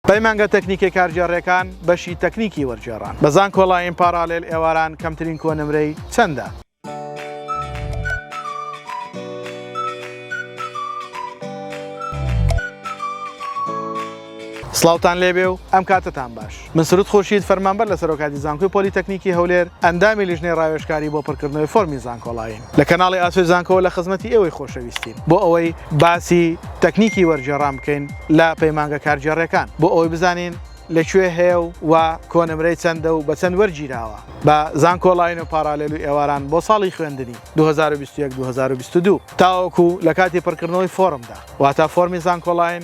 پەیمانگە تەکنیکە کارگێڕێکان بەشی تەکنیکی وەرگێڕان بە زانکۆلاین پاراڵێل ئێواران کەمترین کۆ نمرەی چەندە؟ سڵاوتان لێبێ و ئەم کاتتان باش من سرود خورشید فەرمانبەر لە سەرۆکاتی زانکۆی پۆلیتەکنیکی هەولێر ئەندامی لیژنەی ڕاوێژکاری بۆ پڕکردنەوەی فۆرمی زانکۆڵاین لە کەناڵی ئاسۆی زانکۆوە لە خزمەتی ئێوەی خۆشەویستین بۆ ئەوەی باسی تەکنیکی وەرگێڕان بکەین لە پەیمانگە کارگێڕیەکان بۆ ئەوەی بزانین لە کوێ هەیە و و کۆنمرەی چەندە و بە چەند وەرگیراوە بە زانکۆ ڵاین و پاڕالێل و ئێواران بۆ ساڵی خوێندنی دوو هەزار و بیست و یەک دوو هەزار و بیست و دوو تاوەکو لە کاتی پڕکردنەوەی فۆڕمدا واتا فۆڕمی زانکۆ ڵاین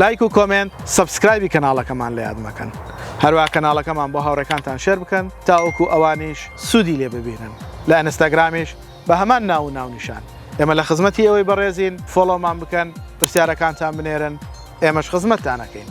لایک و کۆمێنت سەبسکرایبی کەناڵەکەمان لە یاد مەکەن هەروە کەناڵەکەمان بۆ هاوڕێکانتان شێر بکەن تاوەکو ئەوانیش سوودی لێ ببینن لە ئەنستاگرامیش بە هەمان ناو و ناونیشان ئێمە لە خزمەتی ئەوەی بەڕێزین فۆڵۆمان بکەن پرسیارەکانتان بنێرن ئێمەش خزمەتتانەکەین.